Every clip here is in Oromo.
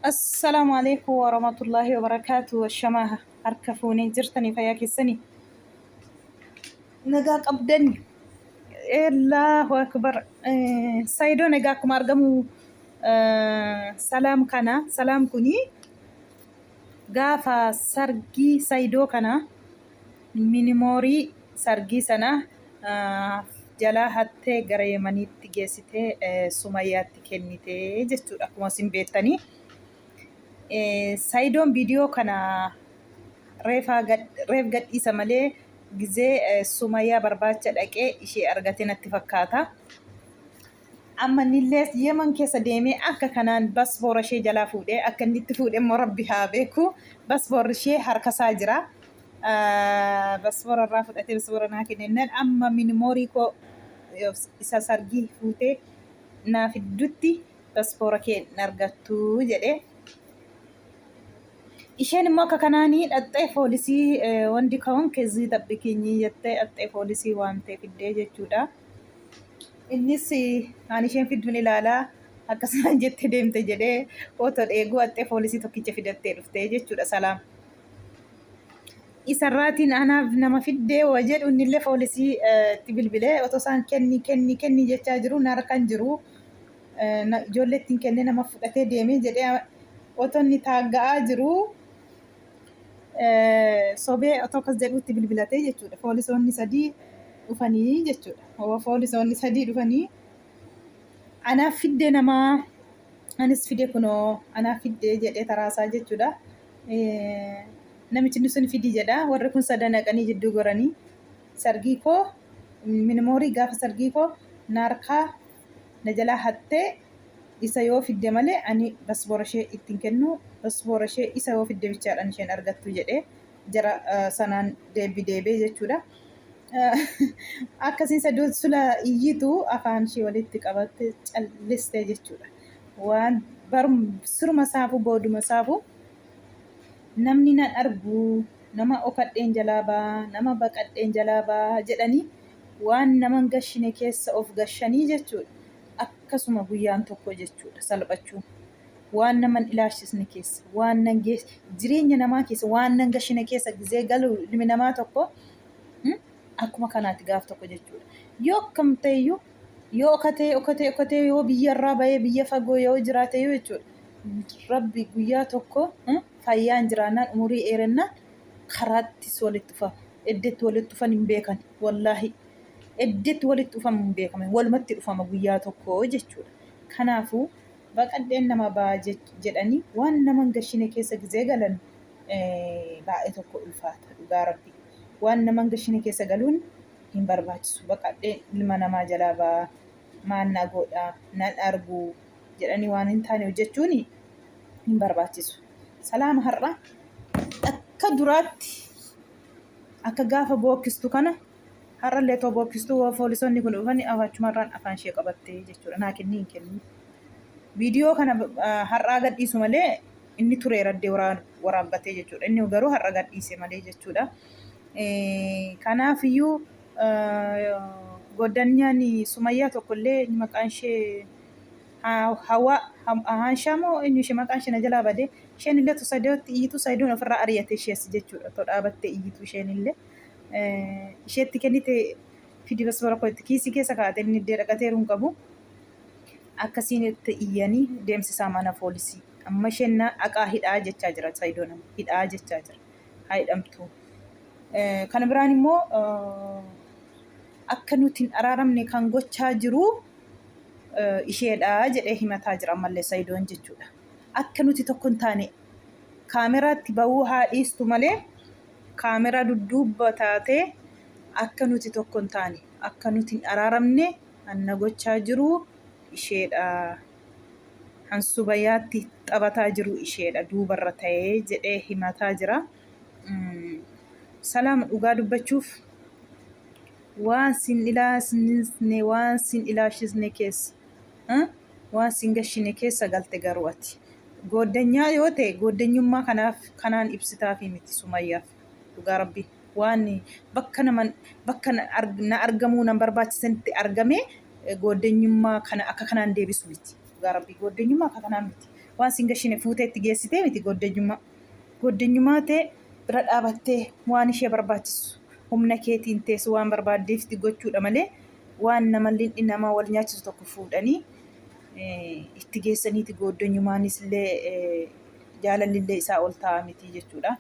Assalaamu alaikum warahmatullahi wabarakaatu washamaa harka fuunee jirtanii fayyaa keessanii nagaa qabdani Allahu akbar saidoo nagaa akkuma argamu salaam kana salaam kuni gaafa sargii saidoo kana Minimoorii sargii sana jalaa hattee gara Yemaniitti geessitee Sumayyaatti kennite jechuudha akkuma isin beektanii. Sayidoon viidiyoo kana reef gadhiisa malee gizee Sumayyaa barbaacha dhaqee ishee argate natti fakkaata. Amma innillees Yeman keessa deemee akka kanaan basboora ishee jalaa fuudhee akka inni itti fuudhe immoo Rabbi haa beeku. Basboorri ishee harka isaa jira. Basboora irraa fudhatee basboora naa kennennaan amma minimoorii koo isa sargii fuutee naa fiddutti basboora kee hin argattu jedhee. Isheen immoo akka kanaanii dhaxxee foolisii wandi ka'uun keezii tabbikinyii jettee dhaxxee foolisii waamtee fiddee jechuudha. Innis Ani isheen fidduun ilaala akkas naan jette deemte jedhee otoo dheeguu haxxee foolisii tokkicha fidattee dhufte jechuudha Salaam. Isarraatiin anaaf nama fiddee wa jedhu innillee foolisii itti bilbilee otoo isaan kenni kenni kenni jechaa jiru na harka hin jiru ijoollee ittiin kennee nama fudhatee deeme jedhee otoo inni taagga'aa jiru sobee otoo akkas jedhuutti bilbilatee jechuudha. Foolisoonni sadii dhufanii jechuudha. Hoo foolisoonni sadii dhufanii anaaf fiddee namaa anis fide kunoo anaaf fiddee jedhee taraasaa jechuudha. Eh, Namichi sun fidii jedha. Warri kun sadan dhaqanii jidduu goranii sargii koo minimoorii gaafa sargii koo naarkaa na jalaa hattee isa yoo fidde malee ani basboora ishee itti hin kennu basboora ishee isa yoo fidde bichaadhaan isheen argattu jedhee jara sanaan deebbi deebee jechuudha. Akkasiin saduun sula iyyitu afaan ishee walitti qabatte calliste jechuudha. Waan siruma saafuu booduma saafuu namni nan argu nama okadheen jalaa baa nama baqadheen jalaa baa jedhanii Waan nama hin gashine keessa of gashanii jechuudha. Akkasuma guyyaan tokko jechuudha salphachuun. Waan nama hin ilaashisne keessa, waan nan gees- jireenya namaa keessa, waan nan gashine keessa gizee galu ilmi namaa tokko mm, akkuma kanaati gaaf tokko jechuudha. Yoo akkam ta'eyyuu yoo okatee okatee okatee yoo biyya irraa bahee biyya fagoo yoo jiraateyyuu jechuudha. Rabbi guyyaa tokko mm, fayyaan jiraannaan umurii dheerennaan karaattis walitti dhufama. Eddetti walitti dhufan hin beekan wallaahi eddetti walitti dhufan hin beekame walumatti dhufama guyyaa tokko jechuudha kanaafuu baqadheen nama baa jedhanii waan naman gashine keessa gizee galan baay'ee tokko ulfaata dhugaa rabbi waan naman gashine keessa galuun hin barbaachisu baqadheen ilma namaa jalaa baa maannaa goodhaa nan arguu jedhanii waan hin taane hojjechuun hin barbaachisu. Salaama har'a akka duraatti akka gaafa bookkistu kana har'allee otoo bookkistu yoo poolisoonni kun dhufanii afaachumarraan afaan ishee qabattee jechuudha naa kennii hin kennuu. Viidiyoo kana har'aa gadhiisu malee inni turee raddee waraabbatee jechuudha. Inni garuu har'a gadhiise malee jechuudha. Kanaafiyyuu Goodanyaan Sumayyaa tokko illee inni maqaan ishee Hawaa Haanshaa moo eenyu ishee maqaan ishee na jalaa bade isheen illee tu Sadiyootti iyyitu Sadiyoon ofirraa ari'ate ishees jechuudha to dhaabattee iyyitu isheen illee isheetti kennite fidi basbara koo itti kiisii keessa kaa'ate inni iddee dhaqateeru hin qabu akkasiin itti iyyanii deemsisaa mana poolisii amma isheen na aqaa hidhaa jechaa jira Sadiyoon hidhaa jechaa jira. haa hidhamtu. Kana biraan immoo akka nuti hin araaramne kan gochaa jiru isheedha jedhee himataa jira ammallee Sayidoon jechuudha. Akka nuti tokko hin taane kaameraatti bahuu haa dhiistu malee kaameraa dudduubba taatee akka nuti tokko hin taane akka nuti hin araaramne anna gochaa jiru isheedha. Kan Subayaatti taphataa jiru isheedha duubarra ta'ee jedhee himataa jira. Salaam dhugaa dubbachuuf waan sin ilaasisne waan sin ilaashisne keessa waan sin gashine keessa galte garuu ati gooddanyaa yoo ta'e gooddanyummaa kanaaf kanaan ibsitaafii miti sumayyaaf dhugaa rabbii. waan bakka naman bakka na arg- na argamuu nan barbaachisanitti argamee eh, gooddenyummaa kana akka kanaan deebisu miti dhugaa rabbii gooddenyummaa akka kanaan miti waan sin gashine fuutee itti geessitee miti gooddenyummaa gooddenyummaa tee bira dhaabattee waan ishee barbaachisu humna keetiin teessu waan barbaaddeefti gochuudha malee waan nama lindhi nama wal nyaachisu tokko fuudhanii eh, itti geessaniiti gooddenyummaanis illee eh, jaalalli illee isaa ol ta'a miti jechuudha.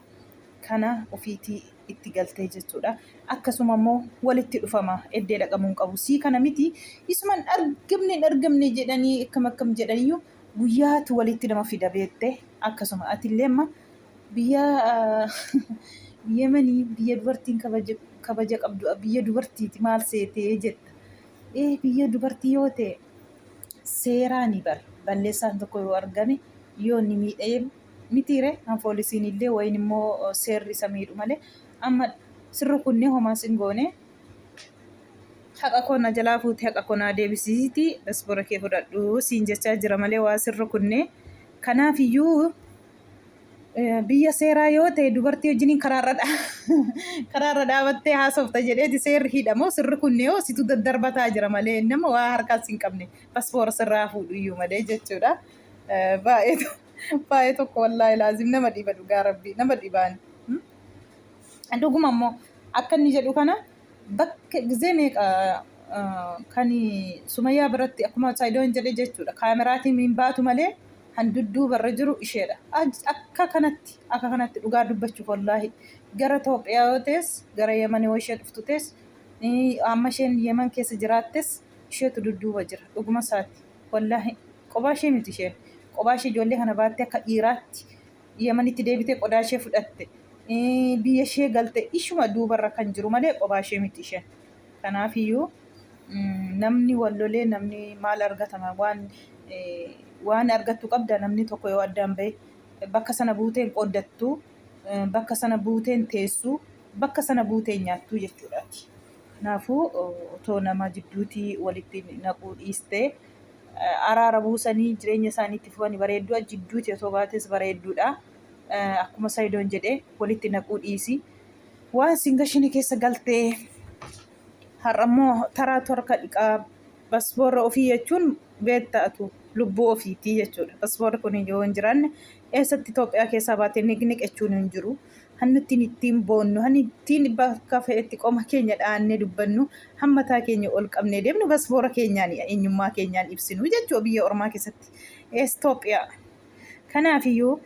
kana ofiitii itti galtee jechuudha. Akkasuma immoo walitti dhufama eddee dhaqamuu hin qabu. Sii kana miti isuma hin argamne hin argamne jedhanii akkam akkam jedhaniyyuu guyyaatu walitti nama fida beette akkasuma atillee amma biyya yemanii biyya dubartiin kabaja kabaja qabdu biyya dubartiiti maal seetee jetta. Ee biyya dubartii yoo ta'e seeraani bar balleessaan tokko yoo argame yoo inni miidhee Mitii ree an foolisiin illee wayin immoo seerri isa miidhu malee amma sin rukunnee homaa sin goonee haqa koo na jalaa fuuti haqa koo naa deebisiiti dasbora kee fudhadhu siin jechaa jira malee waa sin rukunnee kanaaf iyyuu biyya seeraa yoo ta'e dubartii wajjiniin karaarra karaarra dhaabattee haasofta jedheeti seerri hidhamoo sin rukunnee hoo situ daddarbataa jira malee nama waa harkaas hin qabne paspoora sirraa fuudhu iyyuu malee jechuudha baay'eetu. Baay'ee tokko wallaahi laazim nama dhiba dhugaa rabbii nama dhibaan. Dhuguma immoo akka inni jedhu kana bakka gizee meeqa kan sumayyaa biratti akkuma saayidoon jedhe jechuudha kaameraatiin hin baatu malee kan dudduubarra jiru isheedha. Akka kanatti akka kanatti dhugaa dubbachuuf wallaahi gara Itoophiyaa yoo ta'es gara Yemen yoo ishee dhuftu ta'es amma isheen Yemen keessa jiraattes isheetu dudduuba jira dhuguma isaati. Wallaahi qobaa ishee miti isheen. Qobaa ishee ijoollee kana baattee akka dhiiraatti Yamanitti deebitee qodaa ishee fudhatte. Ee, Biyya ishee galte ishuma duubarra kan jiru malee qobaa ishee miti isheen. Kanaafiyyuu mm, namni wal lolee namni maal argatama waan eh, waan argattu qabda namni tokko yoo addaan ba'e bakka sana buuteen qooddattu eh, bakka sana buuteen teessu bakka sana buuteen nyaattu jechuudhaati. Kanaafuu otoo nama jidduuti walitti naquu dhiiste araara buusanii jireenya isaanii itti fufani bareedduu jidduuti otoo baates bareedduudha. Akkuma Sayidoon jedhe walitti naquu dhiisi. Waan sin gashine keessa galtee har'a immoo taraatu harka dhiqaa basboorra ofii jechuun beektaatu lubbuu ofiitii jechuudha. Basboorri kun yoo hin jiraanne Eessatti Itoophiyaa keessaa baatee niqniq jechuun hin jiru. Hannu ittiin ittiin boonnu, hannu ittiin bakka fe'etti qoma keenya dhaannee dubbannu, han mataa keenya ol qabnee deemnu basboora keenyaan eenyummaa keenyaan ibsinu jechuudha biyya ormaa keessatti. Ees Itoophiyaa. Kanaafiyyuu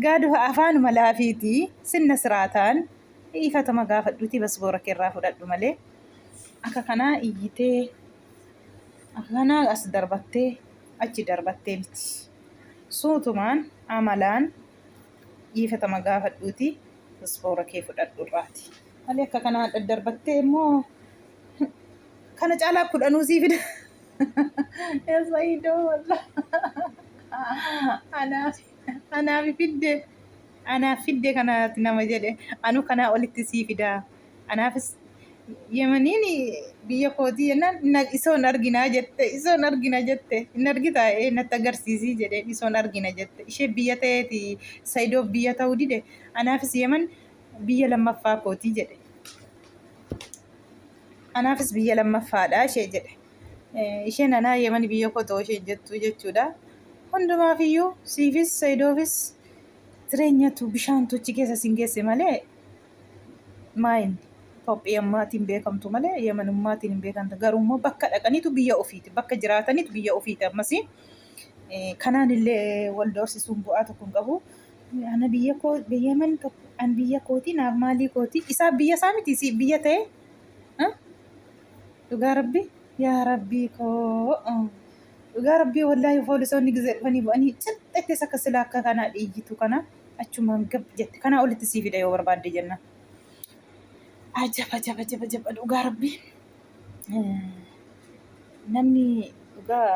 gaadu afaanuma laafiiti sinna siraataan dhiifatama gaafadhuutii basboora keerraa fudhadhu malee akka kanaa iyyitee akka kanaa as darbattee achi darbattee miti. Suutumaan amalaan dhiifatama gaafadhuuti ispoora kee fudhadhu irraati. Malee akka kanaan daddarbattee immoo kana caalaa kudhanuu sii fida. Eessa idoo walla. Anaaf anaaf fidde anaaf fidde kanaati nama jedhe anu kanaa olitti sii fidaa. Anaafis Yemaniin biyya kootii jennaan na- isoon arginaa jette isoon argina jette hin argitaa ee natti agarsiisii jedheen isoon argina jette ishee biyya ta'eeti sayidoof biyya ta'uu dide anaafis yeman biyya lammaffaa kootii jedhe anaafis biyya lammaffaadha ishee jedhe Eh, isheen anaa yemani biyya koo ta'uu ishee jettu jechuudha hundumaafiyyuu siifis sayidoofis jireenyatu bishaantu achi keessa sin geesse malee maayin Itoophiyummaatiin beekamtu malee Yamanummaatiin hin beekamtu. Garuu immoo bakka dhaqaniitu biyya ofiiti. Bakka jiraataniitu biyya ofiiti ammas. Kanaan illee wal doorsisuun bu'aa tokko hin qabu. Ana biyya koo biyya man tokko an biyya kooti naaf maalii kooti isaa biyya isaa miti si biyya ta'e. Dhugaa rabbi yaa rabbii koo. Dhugaa rabbii wallaahi poolisoonni gizee dhufanii bu'anii cixxeetti isa akka silaa akka kanaa dhiigitu kana. achumaan gab jette kanaa olitti sii fida yoo barbaadde jenna ajab ajab ajab ajab dhugaa rabbi namni dhugaa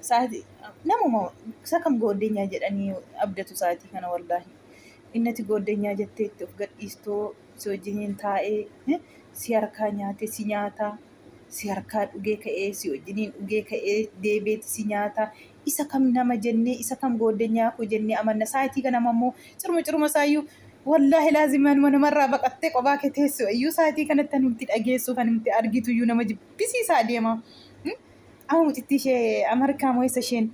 saati namuma isa kam gooddenyaa jedhanii abdatu saatii kana wallaahi innati gooddenyaa jettee itti of gadhiistoo si wajjiniin taa'ee si harkaa nyaate si nyaataa si harkaa dhugee ka'ee si wajjiniin dhugee ka'ee deebeeti si nyaata isa kam nama jennee isa kam gooddanyaa koo jennee amanna saayitii kanama immoo ciruma ciruma isaayyuu wallaahi laazimanuma namarraa baqattee qobaa kee teessu iyyuu saayitii kanatti kan nuti dhageessu kan nuti argitu iyyuu nama jibbisiisaa deema amma mucittii ishee amarkaa moo isa isheen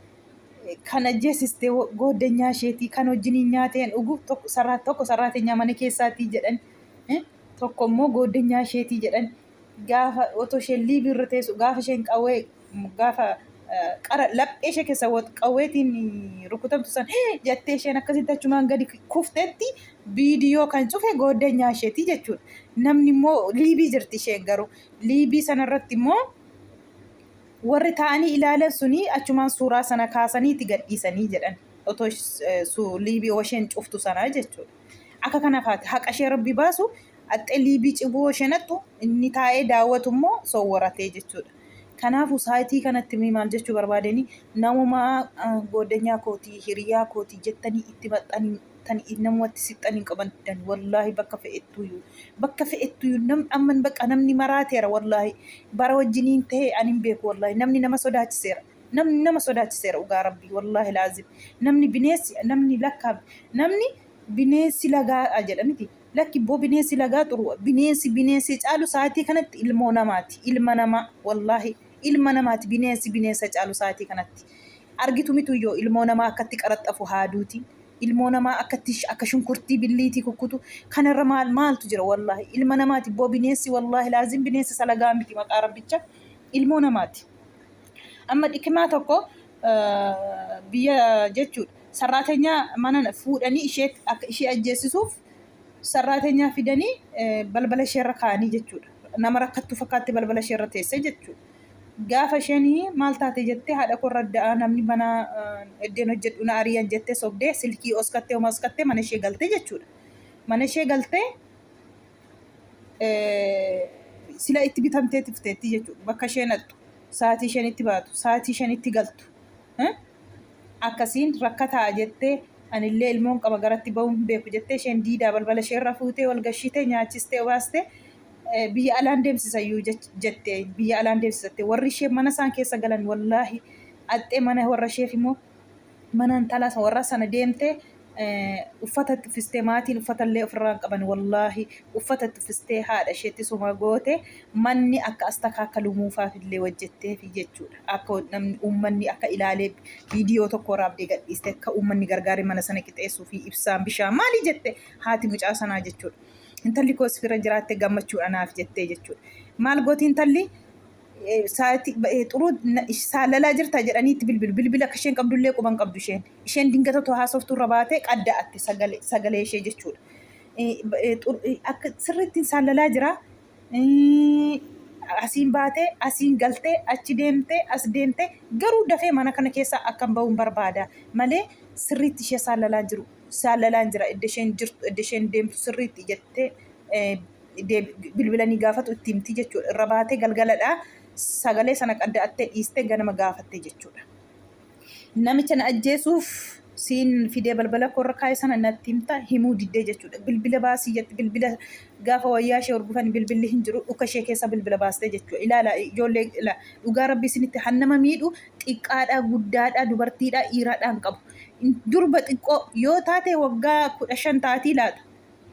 kan ajjeesiste gooddanyaa isheetii kan wajjiniin nyaateen dhugu tokko sarraateenyaa mana keessaatii jedhan tokko immoo gooddanyaa isheetii jedhan gaafa otoo isheen liibii irra teessu gaafa isheen qawwee gaafa eh, qara laphee ishee keessa wat- qawweetiin rukutamtu san "Hii!" jettee isheen akkasitti achumaan gadi kuftetti viidiyoo kan cufe gooddanyaa isheeti jechuudha. Namni immoo liibii jirti isheen garuu liibii sanarratti immoo warri taa'anii ilaalan suni achumaan suuraa sana kaasaniiti gadhiisanii jedhan otoo ish- eh, su- liibii isheen cuftu sanaa jechuudha. Akka kana faati haqa ishee rabbi baasu axxe liibii ciboo ishee naqxu inni taa'ee daawwatu immoo sowwaratee jechuudha. Kanaafu saayitii kanatti mii maal jechuu barbaadeni namumaa gooddanyaa kootii hiriyaa kootii jettanii itti maxxanii tan namumatti sixxan hin qabandan wallaahi bakka fe'ettuyu bakka fe'ettuyu nam amman bakka namni maraateera wallaahi bara wajjiniin ta'e ani hin beeku wallaahi namni nama sodaachiseera. namni nama sodaachiseera dhugaa rabbii wallaahi laazim namni bineessi namni lakkaa namni bineensi lagaa jedha miti lakki boo bineensi lagaa xuru bineensi bineensi caalu sa'aatii kanatti ilmoo namaati ilma namaa wallaahi ilma namaati bineensi bineensa caalu sa'aatii kanatti argitu mitu yoo ilmoo namaa akkatti qaraxxafu haaduutiin ilmoo namaa akkatti sh- akka shunkurtii billiitii kukkutu kanarra maal maaltu jira wallaahi ilma namaati boo bineensi wallaahi laazim bineensi salagaa miti maqaa rabbicha ilmoo namaati Amma dhikimaa tokko biyya jechuudha. Sarraatenyaa mana fuudhanii ishee akka ishee ajjeessisuuf sarraatenyaa fidanii balbala ishee irra kaa'anii jechuudha. Nama rakkattuu fakkaatti balbala ishee irra teessee jechuudha. Gaafa isheen maal taate jettee haadha koo irra da'aa namni mana eddeen hojjedhu na ari'an jettee sobdee silkii oskattee homaa oskattee mana ishee galtee jechuudha. Mana ishee galtee sila itti bitamtee tifteetti jechuudha. Bakka ishee naqxu, sa'aatii isheen itti baatu, sa'aatii isheen itti galtu. Akkasiin rakkataa jettee anillee ilmoon qaba garatti ba'uun hin beeku jettee isheen diidaa balbala ishee irra fuutee wal gashitee nyaachistee obaastee biyya alaan deemsisayyuu jettee biyya alaan deemsisattee warri ishee mana isaan keessa galan wallaahi axxee mana warra isheef immoo mana intala warra sana deemte uffata itti uffistee maatiin uffata illee ofirraa hin qaban wallaahi uffata itti uffistee haadha isheetti suma goote manni akka astakaa akka lumuufaaf illee hojjetteef jechuudha akka namni uummanni akka ilaalee viidiyoo tokko raabdee gadhiiste akka uummanni gargaaree mana sana qixeessuu fi ibsaan bishaan maalii jette haati mucaa sanaa jechuudha intalli koos fira jiraatte gammachuudha naaf jettee jechuudha maal gooti intalli Eh, Saati ba- eh, xuruu na- ish- saalalaa jirta jedhanii itti bilbilu. Bilbila akka isheen qabdullee quban qabdu isheen. Isheen dingata otoo haasoftuu irra baatee qadda'atte sagalee sagalee ishee jechuudha. Eh, ba- eh, xur- eh, Akka sirriitti hin saalalaa jira. Eh, Asiin baatee, asiin galtee, achi deemtee, as deemtee garuu dafee mana kana keessaa akkan ba'uun barbaada malee sirriitti ishee saalalaan jiru. Saalalaan jira idda isheen jirtu, idda isheen deemtu sirriitti jettee eh, bilbilanii gaafatu itti himti jechuudha. Irra baatee galgaladha. Sagalee sana qadda'attee dhiistee ganama gaafatte jechuudha. Namicha na ajjeesuuf siin fidee balbala koorra kaa'e sana natti himta himuu diddee jechuudha. Bilbila baasii jette bilbila gaafa wayyaa ishee horgufan bilbilli hin jiru dhuka ishee keessa bilbila baastee jechuudha. Ilaala ijoollee dhugaa rabbi isinitti han nama miidhu xiqqaadhaa guddaadhaa dubartiidhaa dhiiraadhaa hin qabu. Durba xiqqoo yoo taate waggaa kudha shan taatii laata.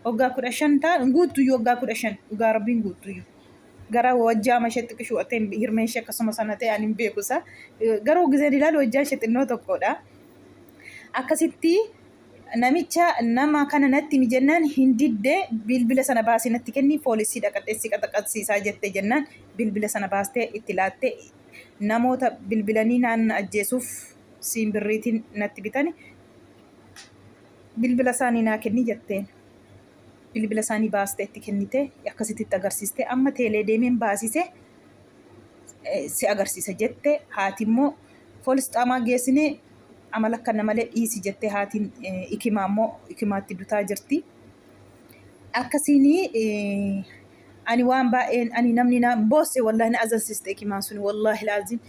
Waggaa kudha shan ta'a hin guuttuyyuu waggaa kudha shan dhugaa rabbii hin guuttuyyuu. Gara wajjaa masheetti qishuu'atee hirmeen ishee akkasuma sana ta'e ani hin beeku isa. Garuu gizeen ilaalu wajjaan ishee xinnoo tokkodha. Akkasitti namicha nama kana natti himi jennaan hin didde bilbila sana baasii natti kenni poolisii dhaqadheessi qaxaqaxsiisaa jette jennaan bilbila sana baastee itti laatte namoota bilbilanii naan ajjeesuuf siin birriitiin natti bitani Bilbila isaanii naa kenni jetteen. Bilbila isaanii baastee itti kennite akkasitti itti agarsiiste amma teelee deemeen baasise si agarsiisa jette haati immoo poolis xaamaa geessinee amala akkana malee dhiisi jettee haatiin ikimaa immoo ikimaatti dutaa jirti. Akkasiin ani waan baay'een ani namni naan boosse wallahi na azansiste ikimaan suni wallahi laazim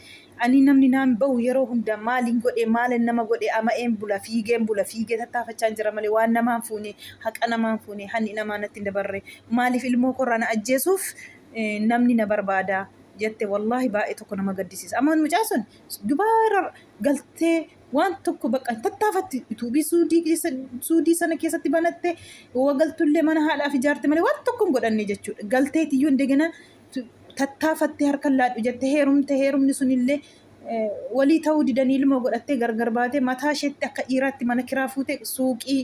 ani namni naan bahu yeroo hunda maaliin godhe maalan nama godhe ama'een bula fiigeen bula fiigee tattaafachaan jira malee waan namaan fuune haqa namaan fuune hanni namaa natti hin dabarre maaliif ilmoo korraa na ajjeesuuf namni na barbaada jette wallahi baay'ee tokko nama gaddisiisa amma mucaa sun dubaa irra galtee waan tokko bakka hin tattaafatti yutuubii suudii keessa suudii sana keessatti banatte yoo galtullee mana haadhaaf ijaarte malee waan tokko hin godhanne jechuudha galteetiyyuu indegana tattaafatte harkan laadhu jette heerumte heerumni sunillee eh, walii ta'uu didanii ilmoo godhattee gargar baatee mataa isheetti akka dhiiraatti mana kiraa fuute suuqii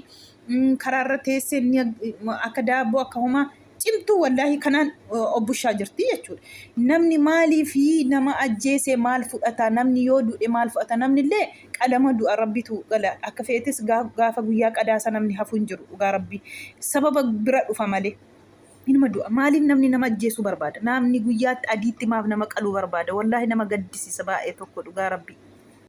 mm, karaarra teessee inni ag- akka daabboo akka homaa cimtuu wallaahi kanaan obbushaa jirti jechuudha. Namni maaliif nama ajjeese maal fudhata namni yoo du'e maal fudhata namni illee qalama du'a rabbitu gala akka feetes gaafa guyyaa qadaasa namni hafu hin jiru dhugaa rabbi sababa bira dhufa malee. Inuma du'a maaliif namni nama ajjeesuu barbaada namni guyyaatti adiitti maaf nama qaluu barbaada wallaahi nama gaddisiisa baay'ee tokko dhugaa rabbi.